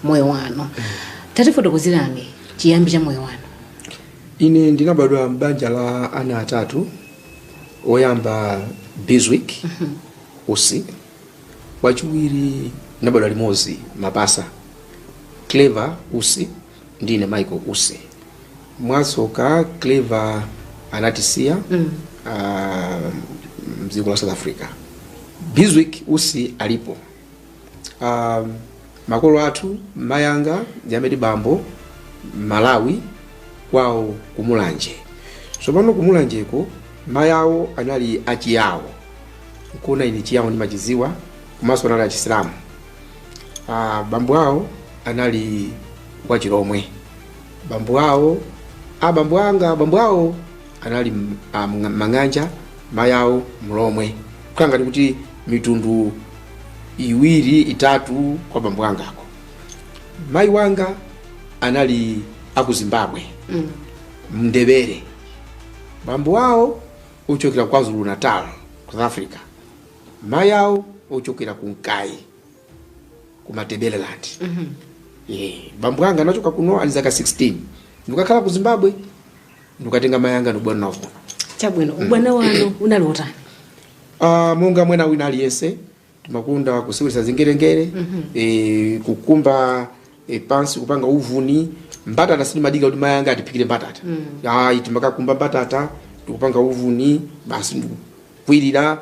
moyo wanu tatifotokozerani chiyambi cha moyo wanu ine ndinabadwa m'banja la ana atatu oyamba biswick usi wachiwiri tinabadwa limodzi mapasa clever usi ndine michael usi mwatsoka clever anatisiya mm. uh, mdziko la south africa biswick usi alipo uh, makolo athu mayanga Zimbabwe bambo malawi kwawo kumulanje tsopano kumulanjeko mayi awo anali achiyawo nkuona ine chiyawo ndimachidziwa komanso anali achisilamu Ah, bambo awo anali wa Chilomwe. Bambo awo a bambo anga bambo awo anali m- a Mng- Mang'anja, mayi awo Mlomwe. Kukhala ngati kuti mitundu iwiri itatu kwa bambo angako. Mayi wanga anali aku Zimbabwe, Mm. Mndebele. Bambo awo ochokera kwa Zulu Natal, South Africa. mayi awo ochokera ku nkayi ku matebeleland yeah. bambo anga anachoka kuno ali zaka 16 ndikakhala ku zimbabwe ndikatenga mayi anga ndikubwera nawo kuno chabwino ubwana wanu unali wotani Ah, monga mwana wina aliyense timakonda kuseweretsa zingerengere eh, kukumba e, pansi kupanga uvuni mbatata sindimadika kuti mayi anga atiphikire mbatata ayi timakakumba mbatata ndikupanga uvuni basi ndikukwirira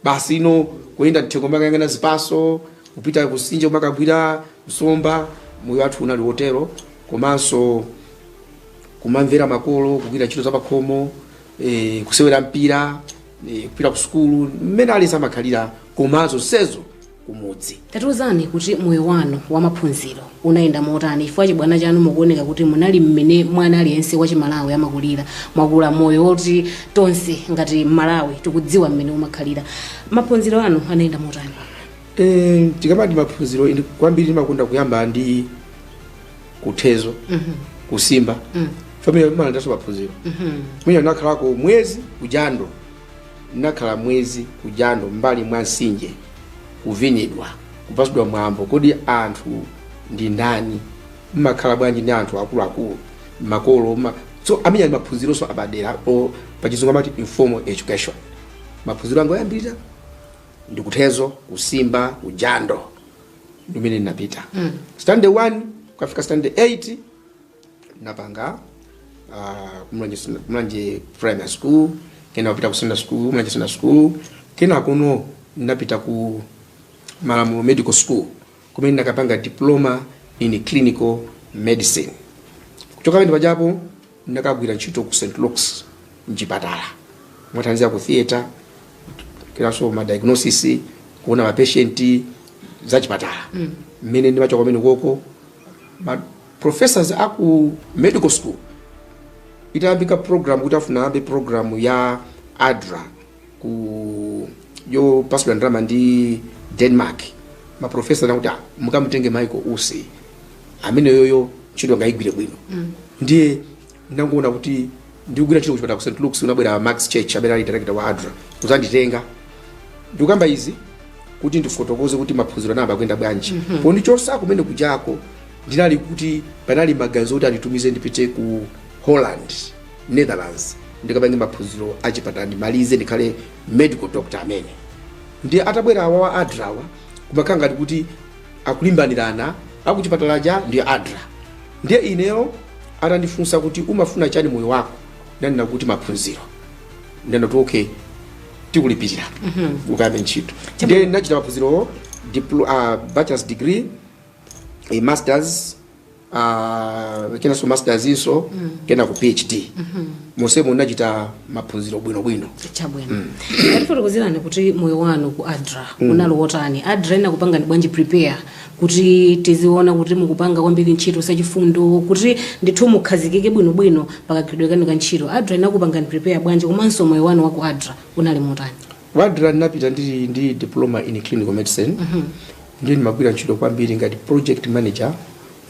basi uno kuyenda mthengo kumakayang'ana zipatso kupita kumtsinje kumakagwira nsomba moyo wathu unali wotero komanso kumamvera makolo kugwira ntchito za pakhomo e, kusewera mpira e, kupita ku sukulu mmene aliyense amakhalira komanso thezo kumudzi. Tatiuzani kuti moyo wanu wa maphunziro unayenda motani chifukwa chibwana chanu mukuoneka kuti munali mmene mwana aliyense wa chimalawi amakulira mwakula moyo woti tonse ngati mmalawi tikudziwa mmene umakhalira maphunziro anu anayenda motani Eh, tikamati maphunziro ine kwambiri ndimakonda kuyamba ndi kuthezo kusimba amene aja ndinso maphunziro mwina nakhalako mwezi kujando Ndinakhala mwezi ku jando m'mbali mwa mtsinje, kuvinidwa, kupatsidwa mwambo. Kodi anthu ndi ndani? Mmakhala bwanji ndi anthu akuluakulu, makolo? ma- So amene aja ndi maphunzironso apadera a pachizungu amati informal education. Maphunziro anga oyambirira ndikuthezo, kusimba, kujando ndimene ndinapita standard 1 kukafika standard 8 napanga uh, kumulanje Sina- kumulanje primary school kena kupita ku secondary school kumulanje secondary school kena kuno napita ku malamulo medical school kumene nakapanga diploma in clinical medicine kuchoka pamene pajapo nakagwira ntchito ku st luke's mchipatala kuthandiza ku theatre kenanso ma diagnosis kuona ma patient za chipatala mmene ndimachoka pamene koko ma- Professors a ku medical school itayambika program kuti afuna ayambe program ya adra ku yopatsidwa ndalama ndi denmark maprofesa anati "Ah, mukamutenge michael usi ameneyoyo ntchito angaigwire bwino ndiye Ndinangoona kuti ndikugwira ntchito kuchipatala ku St Luke's kunabwera a Max Church amene ali director wa ADRA kudzanditenga. Ndikukamba izi kuti ndifotokoze kuti maphunziro anayamba kuyenda bwanji. Pondichotsa kumene kujako ndinali kuti panali maganizo kuti anditumize ndipite ku Holland, Netherlands ndikapange maphunziro a chipatala ndimalize ndikhale medical doctor amene. Ndiye atabwera awawa ADRA awa kumakhala ngati kuti akulimbanirana akuchipatala aja ndi adra ndiye ineyo atandifunsa kuti umafuna chani moyo wako ndinanena kuti maphunziro anati okay tikulipirira ukayambe ntchito ndiye ndinachita maphunzirowo diplo- ah, bachelor's degree a masters uh, kenanso masters inso mm. kenako phd mm -hmm. monsemo ndinachita maphunziro bwinobwino chabwino mm. tatifotokozerani kuti moyo wanu ku adra mm. unali wotani adra inakupangani bwanji prepare kuti tiziona kuti mukupanga kwambiri ntchito zachifundo kuti ndithu mukhazikike bwinobwino pakagwiridwe kanu ka ntchito adra inakupangani prepare bwanji komanso moyo wanu wa ku adra unali motani Ku Adra, Ndinapita ndili ndi Diploma in Clinical Medicine ndiye ndimagwira ntchito kwambiri ngati project manager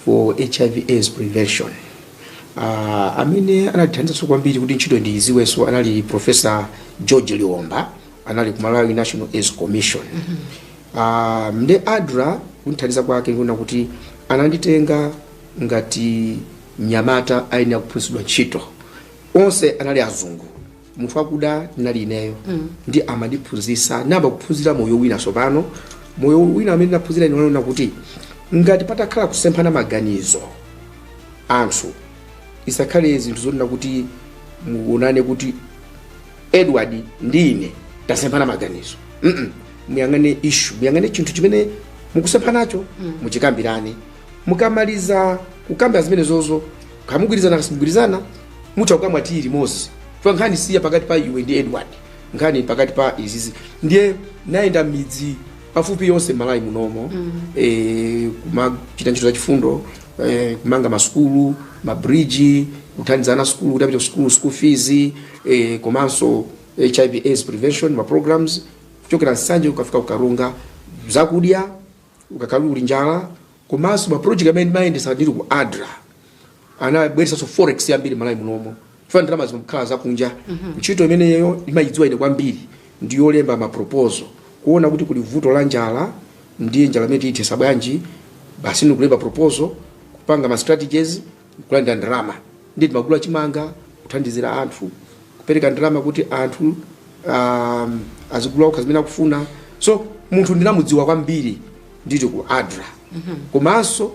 for HIV AIDS prevention. Uh, amene anandithandizanso kwambiri kuti ntchito ndiyidziwenso anali Professor George Liomba anali ku Malawi National AIDS Commission. Uh, ndiye Adra kundithandiza kwake ndikuona kuti ananditenga ngati mnyamata woyenera kuphunzitsidwa ntchito onse anali azungu munthu wakuda ndinali ineyo ndiye amandiphunzitsa ndinayamba kuphunzira moyo wina tsopano moyo wina amene ndinaphunzira ine wonena kuti ngati patakhala kusemphana maganizo anthu isakhale zinthu zonena kuti muonane kuti edward ndi ine tasemphana maganizo Mm-mm. muyang'ane issue muyang'ane chinthu chimene mukusemphanacho muchikambirane mukamaliza kukambira zimenezozo kaya mugwirizana kaya simugwirizana mutha kukamwa tiyi limodzi chifukwa nkhani si ya pakati pa iwe ndi edward nkhani pakati pa izizi ndiye nayenda midzi pafupi yonse malawi munomo mm. e, kumachita ntchito za chifundo e, kumanga masukulu mabridge kuthandiza ana asukulu kuti apite kusukulu school fees e, komanso hiv aids prevention ma programs kuchokera nsanje kukafika kukaronga zakudya kukakhala kuli njala komanso ma project amene ndimayendesa ndili ku adra anabweretsanso forex yambiri malawi munomo chifukwa ndalama zimakhala zakunja ntchito imeneyo ndimayidziwa ine kwambiri ndiyolemba ma proposal kuona kuti kuli vuto la njala ndiye njala imeneyi tiyithetsa bwanji basi ndikulemba proposal kupanga ma strategies Nkulandira ndalama ndiye timagula chimanga, kuthandizira anthu, kupereka ndalama kuti anthu um, azigula okha zimene akufuna. So munthu ndinamudziwa kwambiri ndili ku ADRA komanso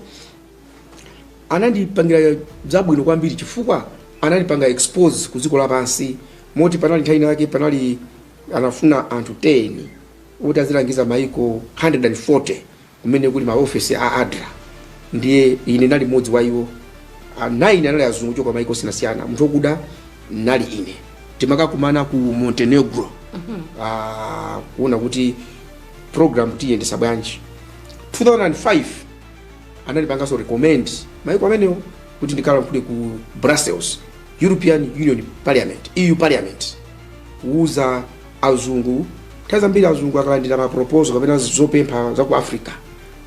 anandipangira zabwino kwambiri chifukwa anandipanga expose ku dziko lapansi moti panali nthawi yake panali anafuna anthu 10 kuti azilangiza maiko 140 kumene kuli maofesi a adra ndiye ine ndinali mmodzi wa iwo A- nine anali azungu kuchoka maiko osiyanasiyana munthu wakuda ndinali ine timakakumana ku montenegro ah, kuona kuti program tiyendetsa bwanji 2005 anandipanganso recommend maiko amenewo kuti ndikalankhule ku brussels european union parliament eu parliament kuuza azungu nthawi zambiri azungu akalandira ma proposal kapena zopempha za ku africa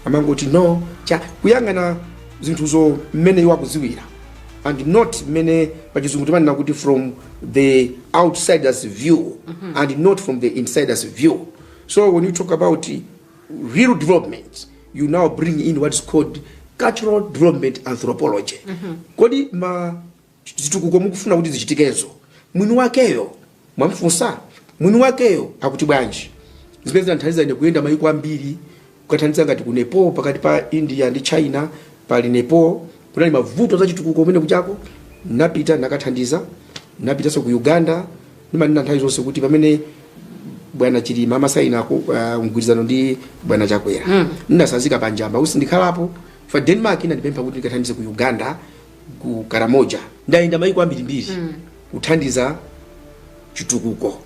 amangoti no cha kuyang'ana zinthuzo mmene iwo akudziwira and not mmene pachizungu timanena kuti from the outsiders view and not from the insiders view so when you talk about real development you now bring in what is called cultural development anthropology kodi ma zitukuko mukufuna kuti zichitikezo mwini wakeyo mwamfunsa? mwini wakeyo akuti bwanji? zimene zinandithandiza ine kuyenda mayiko ambiri kukathandiza ngati ku Nepal pakati pa India ndi China pali Nepal kunali mavuto a chitukuko kumene kujako ndinapita ndinakathandiza ndinapitanso ku Uganda ndimanena nthawi zonse kuti pamene bwana Chilima amasaina ku- ah, mgwirizano ndi bwana Chakwera ndinatsanzika pa Njamba kuti sindikhalapo for Denmark inandipempha kuti ndikathandize ku Uganda ku karamoja ndayenda mayiko ambirimbiri kuthandiza chitukuko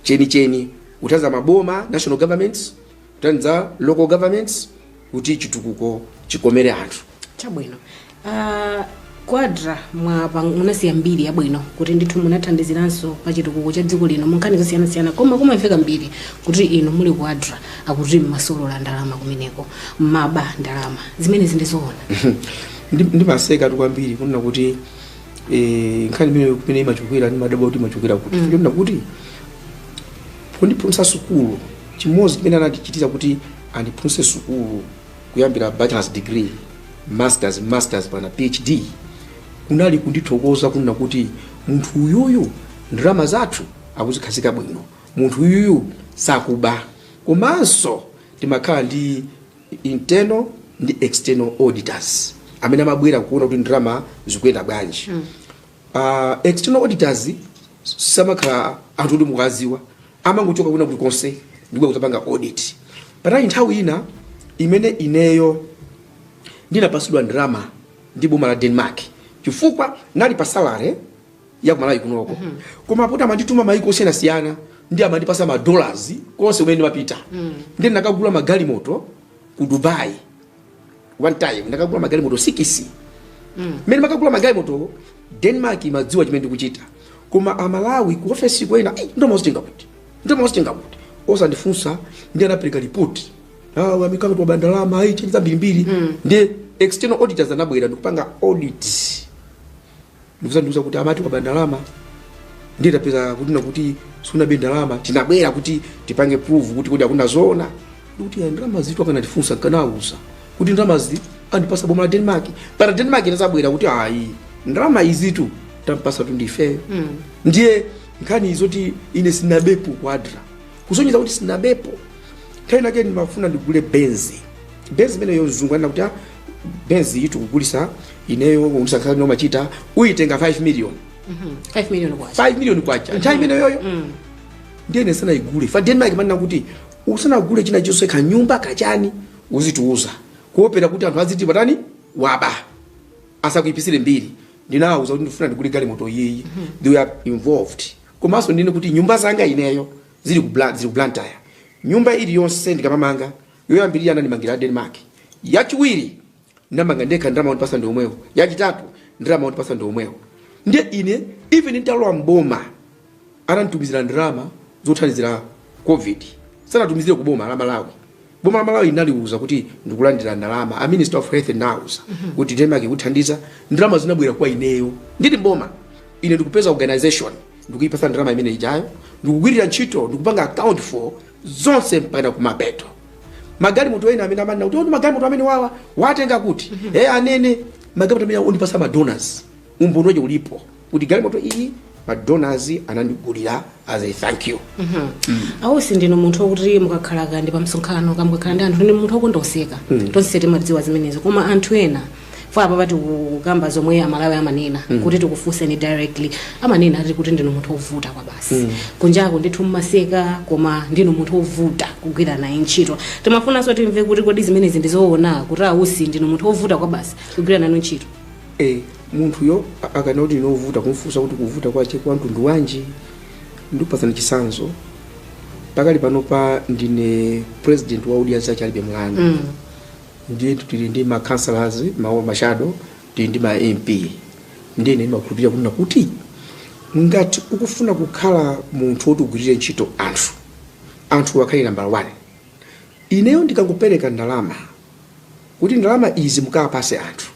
chenicheni kuthandiza maboma national governments kuthandiza local governments kuti chitukuko chikomere anthu chabwino uh, kwadra mwina munasiya mbiri yabwino kuti ndithu munathandiziranso pa chitukuko cha dziko lino munkhani zosiyanasiyana koma kumamveka mbiri kuti inu muli kwadra akuti mmasolola ndalama kumeneko mmaba ndalama zimenezi ndi zoona Ndi- ndimaseka tu kwambiri kunena kuti eh, nkhani imene kumene imachokera ndimadabwa kuti imachokera kuti Mm. ndinena kuti kundiphunzitsa sukulu chimodzi chimene anandichitira kuti andiphunzitse sukulu kuyambira bachelors degree masters masters mpaka phd kunali kundithokoza kunena kuti munthu uyuyu ndalama zathu akuzikhazika bwino munthu uyuyu sakuba komanso timakhala ndi internal ndi external auditors amene amabwera kuona kuti ndalama zikuyenda bwanji uh, external auditors samakhala anthu oti mukuwadziwa amangochoka kwina kuti konse ndikubwera kudzapanga audit panali nthawi ina imene ineyo ndinapasidwa ndalama ndi boma la denmark chifukwa ndinali pa salary ya kumalawi kunoko mm -hmm. koma poti amandituma maiko osiyanasiyana ndi amandipasa madollars konse kumene ndimapita mm. ndi ndinakagula magalimoto ku dubai one time ndinakagula magalimoto sikisi mm. mene ndimakagula magalimoto denmark imadziwa chimene ndikuchita koma amalawi ku ofesi kuja ndo mauzitenga kuti ndo mauzitenga kuti osandifunsa ndi anapereka ripoti amaika ngati waba ndalama ayi chani zambirimbiri mm. ndi external auditors anabwera ndikupanga audit ndikuzandiuza kuti amati waba ndalama ndiye tapeza kuti nakuti sunabe ndalama tinabwera kuti tipange prove kuti kodi akunena zoona ndikuti ya ndalama zitu akanandifunsa nkanawauza kuti ndalama zi andipasa boma la denmark mpaka denmark inazabwera kuti ayi ndalama izitu tampasa tu ndifeyo ndiye nkhani zoti ine sinabepo kwadra kusonyeza kuti sinabepo nthawi nake ndimafuna ndigule benzi benzi imeneyo mzungu ananena kuti "Ah, benzi yitu ndikugulisa ineyo undisankhani nomachita uyitenga 5 million 5 million kwacha 5 million kwacha nthawi imene yoyo ndiye ine ndisanayigule fa denmark imanena kuti usanagule china chonse kanyumba kachani uzitiuza kuopera kuti anthu aziti pakuti waba asakuipisire mbiri ndinawauza kuti ndifuna ndigule galimoto iyiyi they were involved komanso ndinene kuti nyumba zanga ineyo zili ku Blan- zili ku blantyre nyumba iliyonse ndikamamanga Yoyambirira anandimangira ya Denmark, yachiwiri ndinamanga ndekha ndalama ondipatsa ndi omwewo, yachitatu ndalama ondipatsa ndi omwewo. Ndiye ine even nditalowa m'boma ananditumizira ndalama zothandizira Covid, sanatumizire ku boma la Malawi. Boma la Malawi linaliuza kuti ndikulandira ndalama, a Minister of Health ndinauza kuti Denmark ikuthandiza, ndalama zinabwera kwa ineyo ndili m'boma. Ine ndikupeza organisation ndikuyipatsa ndalama imene ijayo, ndikugwirira ntchito, ndikupanga account for zonse mpaka kumapeto magalimoto ena amene amanena kuti "Oh, ndi magalimoto amene awawa watenga kuti e anene magalimoto amene ondipatsa madonors umboni wake ulipo kuti galimoto iyi madonors anandigulira as a thank you a Usi ndinu munthu wokuti mukakhala kaya ndi pa msonkhano kaya mukakhala ndi anthu ndinu munthu wokonda kuseka tonse timazidziwa zimenezo koma anthu ena poti apapa tikukamba zomwe amalawi amanena mm. kuti tikufunseni directly amanena ati kuti ndinu munthu wovuta kwabasi mm. kunjako ndithu mumaseka koma ndinu munthu wovuta kugwira naye ntchito timafunanso timve kuti kodi zimenezi ndizoona kuti a Usi ndinu munthu wovuta kwabasi kugwira nanu ntchito eh, munthuyo a- akanena kuti ndine wovuta kumfunsa kuti kuvuta kwache kwa mtundu wanji ndikupatsani chitsanzo pakali panopa ndine president wa Odya Zake Alibe mlandu mm. ndiye tili ndi ma councillors ma shadow tili ndi ma mp ndiye ndimakhulupirira kunena kuti ngati ukufuna kukhala munthu woti ugwirire ntchito anthu anthu akhale nambala 1 ineyo ndikakupereka ndalama kuti ndalama izi mukapatse anthu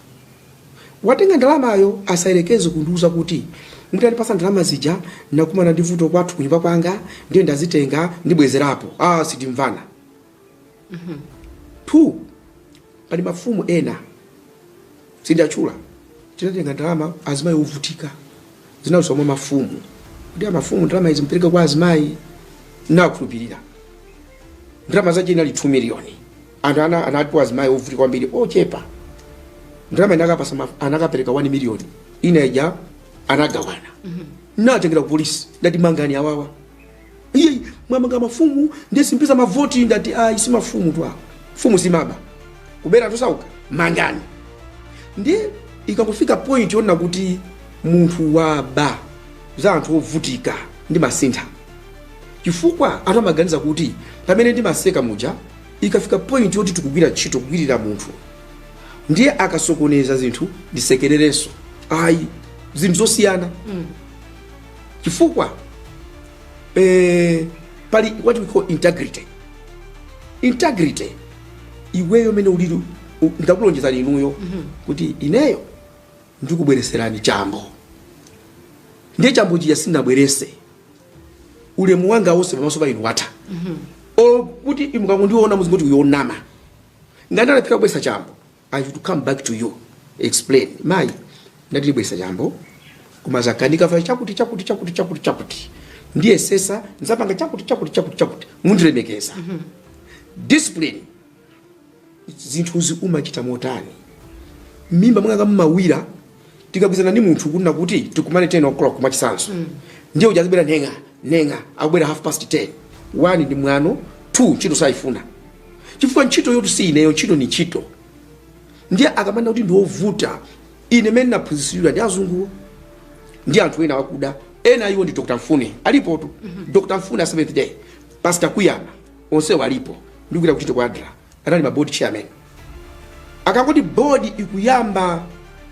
watenga ndalamayo asayerekeze kundiuza kuti mutandipatsa ndalama zija nakumana ndi vuto kwathu kunyumba kwanga ndiye ndazitenga ndibwezerapo, ah sitimvana 2 pali mafumu ena sindiwatchula tinatenga ndalama azimayi ovutika zinadutsa mwa mafumu kuti amafumu ndalama izi mpereke kwa azimayi nakhulupirira ndalama zake inali 2 miliyoni anthu ana anati poti azimayi ovutika kwambiri ochepa ndalama anakapatsa ma- anakapereka 1 miliyoni ina ija anagawana ndinatengera ku polisi ndinati mangani awawa iih mwamanga mafumu ndiye simpeza mavoti ndati ayi si mafumutu awo mfumu simaba kubera anthu osauka mangani ndiye ikangofika point yonena kuti munthu waba za anthu ovutika ndimasintha chifukwa anthu amaganiza kuti pamene ndimaseka muja ikafika point yoti tikugwira ntchito kugwirira munthu ndiye akasokoneza zinthu ndisekererenso ayi zinthu zosiyana chifukwa eh, pali what we call integrity integrity iweyo mene ulili u- ndakulonjezani inuyo kuti ineyo ndikubwereserani chambo ndiye chambo chija sindinabwerese ulemu wanga wonse pamaso pa inu watha olo kuti mukangondiona muzingoti uyo onama ngati ndalephera kubweresa chambo I should come back to you explain mayi ndati ndibweresa chambo koma zakanika chifukwa chakuti chakuti chakuti chakuti chakuti ndiyesesa nzapanga chakuti chakuti chakuti chakuti mundilemekeza discipline zinthuzi umachita motani mmimba mwanga mumawira tikagwirizana ndi munthu kunena kuti tikumane 10 o'clock mwachitsanzo ndiye uja azibwera nyang'a nyang'a akubwera half past 10 one ndi mwano two ntchito sayifuna chifukwa ntchitoyotu si ineyo ntchito ni ntchito ndiye akamanena kuti ndi ovuta ine mene naphunzitsidwa ndi azunguwo ndi anthu ena akuda ena a iwo ndi dr mfune alipotu dr mfune a seventh day pastor kuyama onsewo alipo ndikugwira ntchito ku adra anali ma board chairman akangoti board ikuyamba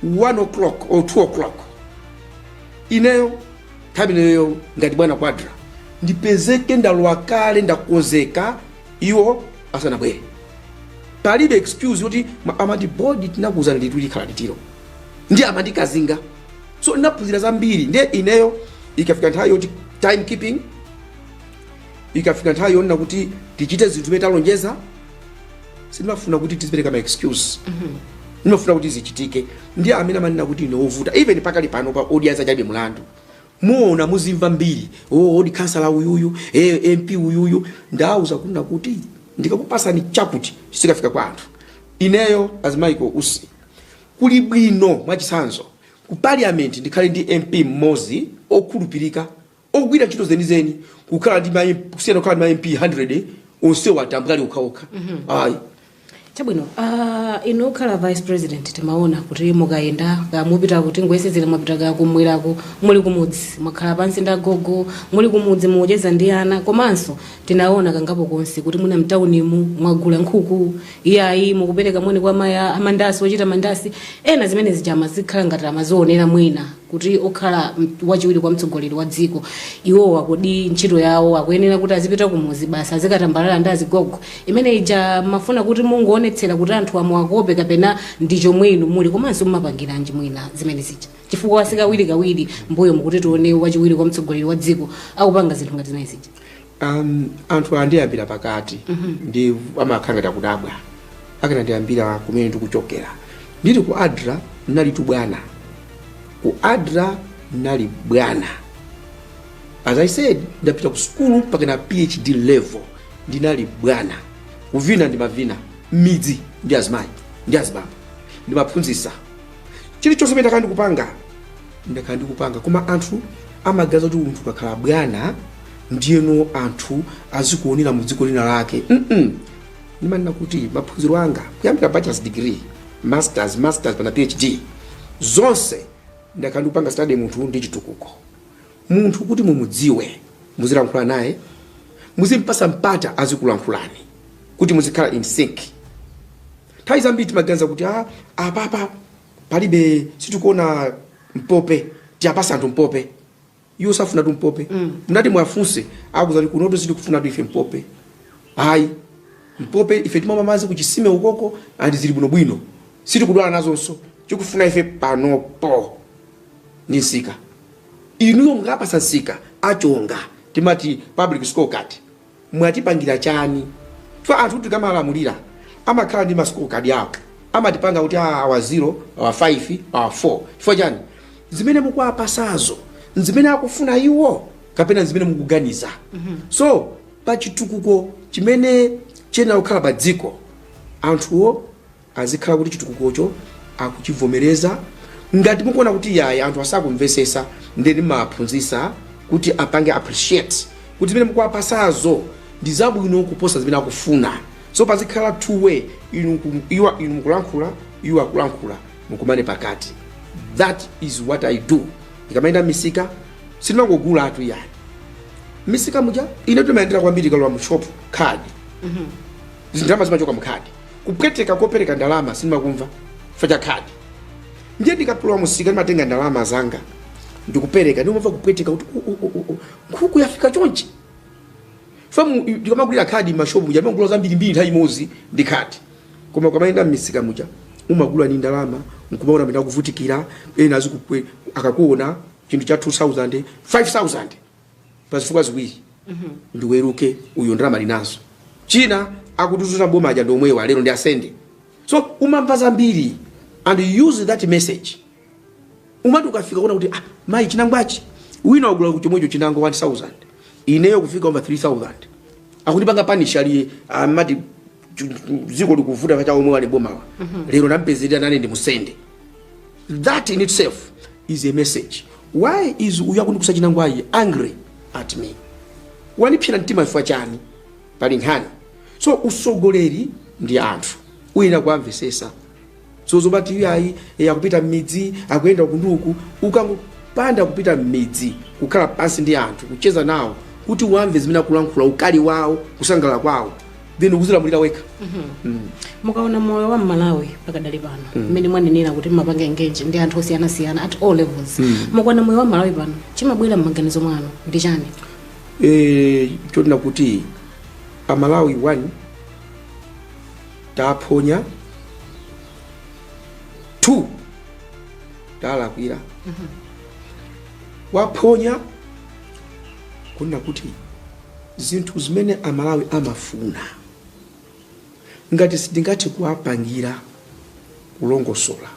1 o'clock or 2 o'clock ineyo nthawi imeneyo ngati bwana ku adra ndipezeke ndalowa kale ndakonzeka iwo asanabwere palibe excuse yoti ma- amati bodi tinakuuzani liti likhala litiro ndiye amandikazinga so ndinaphunzira zambiri ndiye ineyo ikafika nthawi yoti time keeping ikafika nthawi yonena kuti tichite zinthu zimene talonjeza sindimafuna kuti tizipereka ma excuse ndimafuna kuti zichitike ndi amene amanena kuti ine wovuta even pakali pano pa odya zake alibe mlandu muona muzimva mbiri yoti kansala uyuyu eh, mp uyuyu ndauza kunena kuti ndikakupasani chakuti chizikafika kwa anthu ineyo as michael usi kuli bwino mwachitsanzo ku parliament ndikhale ndi mp mmodzi okhulupirika ogwira ntchito zenizeni kukhala ndi ma MP kusiyana kukhala ndi ma MP 100 onsewo atambwali okhaokha ayi chabwino uh, inu okhala vice president timaona kuti mukayenda ka mupita kuti ngoyesezera mwapita ka kumweraku muli kumudzi mwakhala pansi ndi agogo muli kumudzi mukucheza ndi ana komanso tinaona kangapo konse kuti muno mtaunimu mwagula nkhuku iyayi mukupereka moni kwa mayi amandasi ochita mandasi ena zimene zija zimakhala ngati amazionera mwina kuti okhala wachiwiri kwa mtsogoleri wa dziko iwowa kodi ntchito yawo akuyenera kuti azipita kumuzi basi azikatambalala ndi azigogo imene ija mumafuna kuti mungoonetsera kuti anthu amuwakope kapena ndi chomwe inu muli komanso mumapangiranji mwina zimene zija chifukwa si kawirikawiri mbuyomu kuti tione wachiwiri kwa mtsogoleri wa dziko akupanga zinthu ngati zimene zija Um, anthu andiyambira pakati ndi amakhala ngati akudabwa akanandiyambira kumene ndikuchokera ndili ku adra ndinalitu bwana ku adra ndinali bwana as i said ndidapita ku sukulu mpakana phd level ndinali bwana kuvina ndimavina mmidzi ndi azimayi ndi azibambo ndimaphunzisa chilichonse pamene ndakhala ndikupanga ndakhala ndikupanga koma anthu amaganiza kuti munthu ukakhala bwana ndiyeno anthu azikuonera mu dziko lina lake mm ndimanena kuti maphunziro anga kuyambira bachelors degree masters masters mpakana phd zonse ndakhala ndikupanga study munthu ndi chitukuko munthu kuti mumudziwe muzilankhula naye muzimpasa mpata azikulankhulani kuti muzikhala in sync nthawi zambiri timaganiza kuti ah, apapa palibe sitikuona mpope tiwapatse anthu mpope iwo sakufunatu mpope mm. mukati muwafunse akuuzani kuti kunotu sitikufunatu ife mpope ayi mpope ife timamwa madzi kuchisime ukoko and zili bwinobwino sitikudwala nazonso chikufunika ife panopo ni nsika inuyo mukapasa nsika achonga timati public scorecard mwatipangira chani chifukwa anthu tikamawalamulira amakhala ndi ma score card awo amatipanga kuti aa awa 0 awa 5 awa 4 chifukwa chani zimene mukuwapasazo nzimene akufuna iwo kapena nzimene mukuganiza so pa chitukuko chimene chiyenera kukhala pa dziko anthuwo azikhala kuti chitukukocho akuchivomereza ngati mukuona kuti yayi anthu asakumvesesa ndiye mumawaphunzisa kuti apange appreciate kuti zimene mukuwapasazo ndi zabwino kuposa zimene akufuna so pazikhala two way inu ku- iwa- inu mukulankhula iwo akulankhula mukumane pakati that is what i do ndikamayenda mmisika sindimangogulatu yayi mmisika muja ine timayendera kwambiri ukalowa mu shop card ndalama zimachoka mu card kupweteka kopereka ndalama sindimakumva chifukwa cha khadi ndiye ndikalowa mumsika ndimatenga ndalama zanga ndikupereka ndimamva kupweteka kuti "U- u- u- u, nkhuku yafika chonchi chifukwa ndikamagulira khadi mmashopu muja ndimagula zambirimbiri nthawi imodzi ndi khadi koma ukamayenda mmisika muja umagula ni ndalama nkumaona amene akuvutikira ena amakupweteka akakuona chinthu cha 2000 5000 pazifukwa ziwiri ndi wolemera uyo ndalama ali nazo china akutuzunza boma aja ndi omwewa lero ndiwasende so umamva zambiri and you use that message umati ukafika kuona kuti ah, mayi chinangwachi wina wagula chomwecho chinangwa 1000 ineyo kufika umva 3000 akutipanga punish ndiye amati dziko likuvuta paja omwe ali bomawa lero nampezerera nane ndimusende that in itself is a message why is uyu akundikuza chinangwayi angry at me wanipsera mtima chifukwa chani pali nkhani so usogoleri ndi anthu uyenera kuwamvesesa so zomati iyayi e, akupita m'midzi akuyenda uku ndi uku ukangopanda kupita m'midzi kukhala pansi ndi anthu kucheza nawo kuti uwamve zimene akulankhula ukali wawo kusangalala kwawo then ukuzilamulira wekha mukaona moyo wa mmalawi pakadali pano mmene mwanenera kuti mumapanga engage ndi anthu osiyanasiyana at all levels mukaona moyo wa mmalawi pano chimabwera m'maganizo mwanu ndi chani e, chonena kuti amalawi one taphonya 2 talakwira taphonya kunena kuti zinthu zimene amalawi amafuna ngati sitingathe kuwapangira kulongosola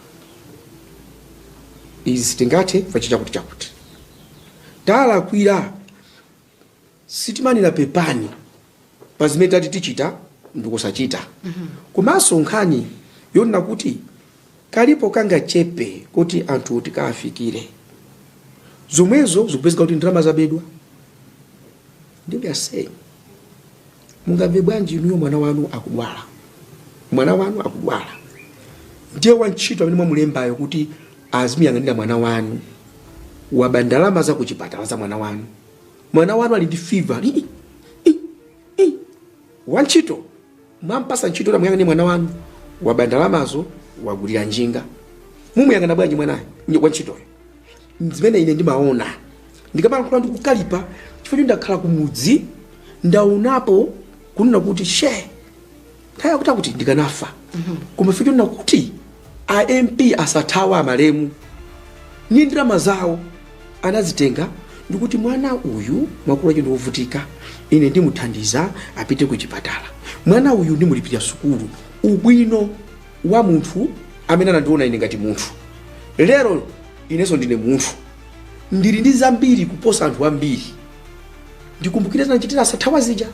izi sitingathe pachita kuti chakuti talakwira Sitimanena pepani pa zimene tati tichita ndikusachita komanso nkhani yonena kuti kalipo kangachepe koti anthuwo tikaafikire zomwezo zikupezeka kuti ndalama zabedwa ndiye saying mungamve bwanji inuyo mwana wanu akudwala mwana wanu akudwala ndiye wantchito amene mwamulembayo kuti azimuyang'anira mwana wanu waba ndalama za kuchipatala za mwana wanu Mwana wanu ali ndi fever. Wantchito mwampasa ntchito yoti amuyang'anire mwana wanu, waba ndalamazo, wagulira njinga. Mumuyang'ana bwanji mwanayo, ny- wantchitoyo? Zimene ine ndimaona ndikamalankhula ndi kukalipa chifukwa choti ndakhala kumudzi ndaonapo kunena kuti she nthawi yakuti ndikanafa koma chifukwa chonena kuti a mp a Sathawa amalemu ndi ndalama zawo anazitenga ndikuti mwana uyu makolo akewo ndiovutika ine ndimuthandiza apite ku chipatala mwana uyu ndimulipirira sukulu ubwino wa munthu amene anandiona ine ngati munthu lero inenso ndine munthu ndili ndi zambiri kuposa anthu ambiri ndikumbukire zanachitira a Sathawa zija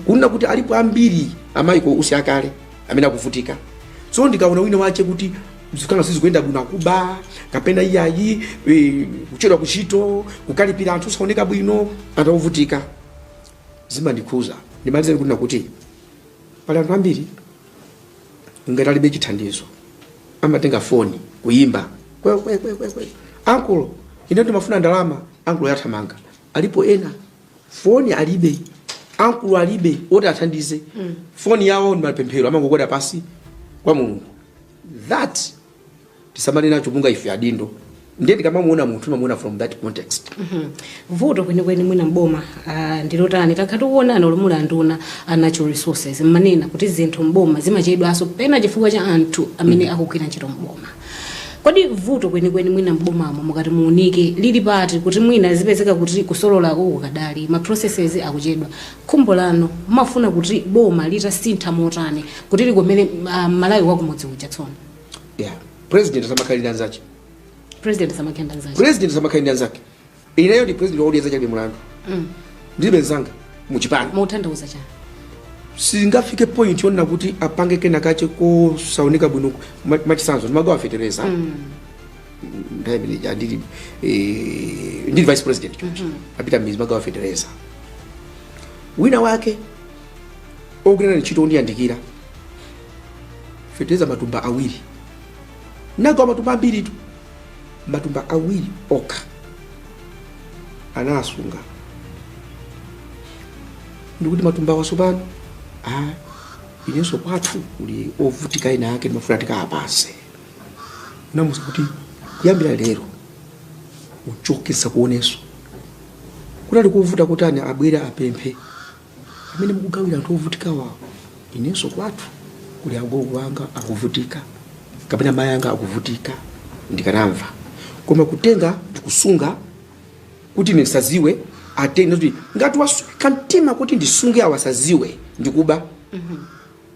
kunena kuti alipo ambiri a Michael Usi akale amene akuvutika so ndikaona wina wake kuti zikana sizikuyenda bwino akuba kapena iyayi eh, kuchedwa kuntchito kukalipira anthu osaoneka bwino anthu akuvutika zimandikhuza ndimalizeni kunena kuti pali anthu ambiri ngati alibe chithandizo amatenga foni kuyimba kwe kwe kwe kwe kwe ankulo ine ndimafuna ndalama ankulo yathamanga alipo ena foni alibe ankulo alibe oti athandize foni yawo ndi mapemphero amangokwera pasi kwa mulungu that tisamale nacho monga ife adindo ndiye tikamamuona munthu timamuona from that context Mhm. vuto kwenikweni mwina mboma ah, ndilotani takhalani poona munalimo nduna ya natural resources mmanena kuti zinthu mboma zimachedwanso pena chifukwa cha anthu amene akugwira ntchito mboma kodi vuto kwenikweni mwina mbomamo mukati muunike lili pati kuti mwina zipezeka kuti kusolola uku kadali ma processes akuchedwa Khumbo lanu mumafuna kuti boma litasintha motani kuti likomere mmalawi wakumudzi uja tsono? Yeah. President asamakhale ndi anzache. President asamakhale ndi anzache. President asamakhale ndi anzake. Ineyo ndi president wakuti anzache ali mulandu. Mm. Ndilibe nzanga mu chipani. Muthandauza chani? Singafike point yonena kuti apange kena kache kosaoneka bwino machisanzo ndimagawa fetereza. Mm. nthawi imene ija ndili eh, ndili vice president choncho ndapita mmizi ndimagawa fetereza wina wake ogwira naye ntchito ondiyandikira fetereza matumba awiri nagawa matumba ambiritu matumba awiri okha anasunga ndikuti matumba awa tsopano ah, inenso kwathu kuli ovutika ena ake ndimafuna ndikawapase namuuza kuti kuyambira lero uchoke ndisakuoneso chinali kuvuta nchiyani abwere apemphe amene mukugawira anthu ovutikawa inenso kwathu kuli agogo anga akuvutika kapena mayi anga akuvutika ndikanamva koma kutenga ndikusunga kuti ine ndisaziwe atenge kuti ngati wasweka mtima kuti ndisunge awa asaziwe ndikuba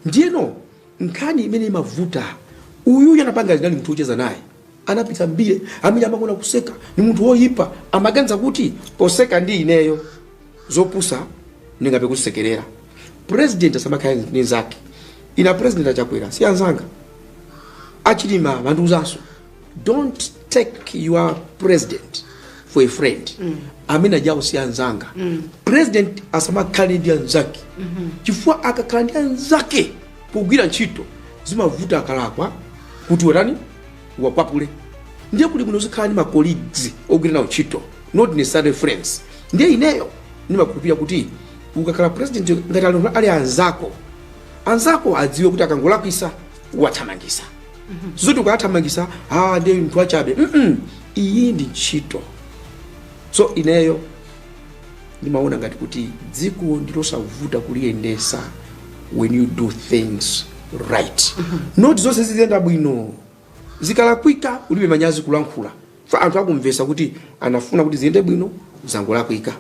ndiyeno nkhani imene imavuta uyuyu anapanga anali munthu wocheza naye anapita mbire amene ndimakonda kuseka ni munthu woyipa amaganiza kuti poseka ndi ineyo zopusa ndingathe kusekerera president asamakhale ndi anzake ine president achakwera si anzanga achilima amandiuzanso don't take your president for a friend amene aja awo si anzanga president asamakhale ndi anzake chifukwa akakhala ndi anzake pogwira ntchito zimavuta akalakwa kuti uwaitane uwakwapule ndiye kuti bwino uzikhala ndi macolleagues ogwira nawo ntchito not necessarily friends ndiye ineyo ndimakhulupirira kuti ukakhala president ngati ali ali anzako anzako adziwe kuti akangolakwisa uwathamangisa sizoti ukawathamangisa ah ndiye munthu wachabe mm -mm. iyi ndi ntchito so ineyo ndimaona ngati kuti dziko ndilosavuta kuliyendesa when you do things right not zoti zonse ziziyenda bwino zikalakwika ulibe manyazi kulankhula Chifukwa anthu akumvesa kuti anafuna kuti ziyende bwino zangolakwika.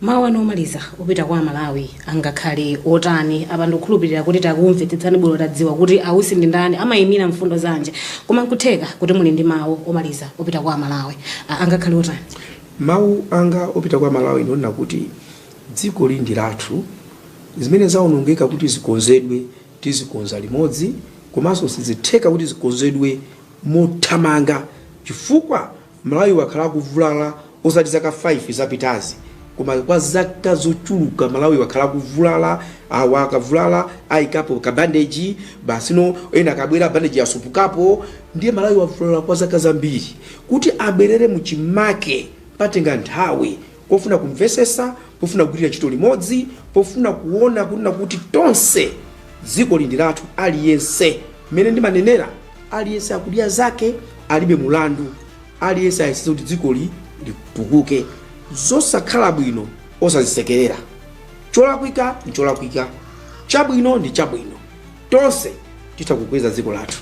Mawu anu omaliza opita kwa amalawi angakhale otani? Apa ndikukhulupilira kuti takumvetsetsani bwino tadziwa kuti a Usi ndi ndani, amayimira mfundo zanji koma nkutheka kuti muli ndi mawu omaliza opita kwa amalawi. Angakhale otani? Mawu anga opita kwa amalawi ndi onena kuti dzikoli ndi lathu, zimene zaonongeka kuti zikonzedwe tizikonza limodzi komanso sizitheka kuti zikonzedwe, mothamanga chifukwa Malawi wakhala akuvulala osati zaka 5 zapitazi koma kwa zaka zochuluka Malawi wakhala akuvulala awa akavulala ayikapo ka bandage basi ndiye ena akabwera bandage yasupukapo ndiye Malawi wavulala kwa zaka zambiri kuti abwerere muchimake patenga nthawi pofuna kumvesesa pofuna kugwirira ntchito limodzi pofuna kuona kunena kuti tonse dzikoli ndi lathu aliyense mmene ndimanenera aliyense akudya zake alibe mulandu aliyense ayesese kuti dzikoli litukuke zosakhala bwino osazisekerera cholakwika ndi cholakwika chabwino ndi chabwino tonse titha kukweza dziko lathu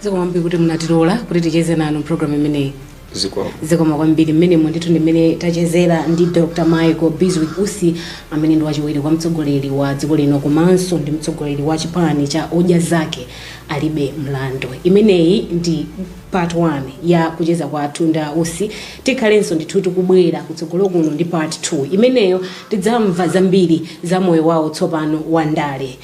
zikomo kwambiri kuti munatilola kuti ticheze nanu mpulogalamu imeneyi zikomo zikomo kwambiri mmenemo ndithu ndimene tachezera ndi dr michael bizwick usi amene ndi wachiwiri kwa mtsogoleri wa dziko lino komanso ndi mtsogoleri wa chipani cha odya zake alibe mlandu imeneyi ndi part 1 ya kucheza kwathu ndi a usi tikhalenso ndithu tikubwera kutsogolo kuno ndi part 2 imeneyo tidzamva zambiri za moyo wawo tsopano wa ndale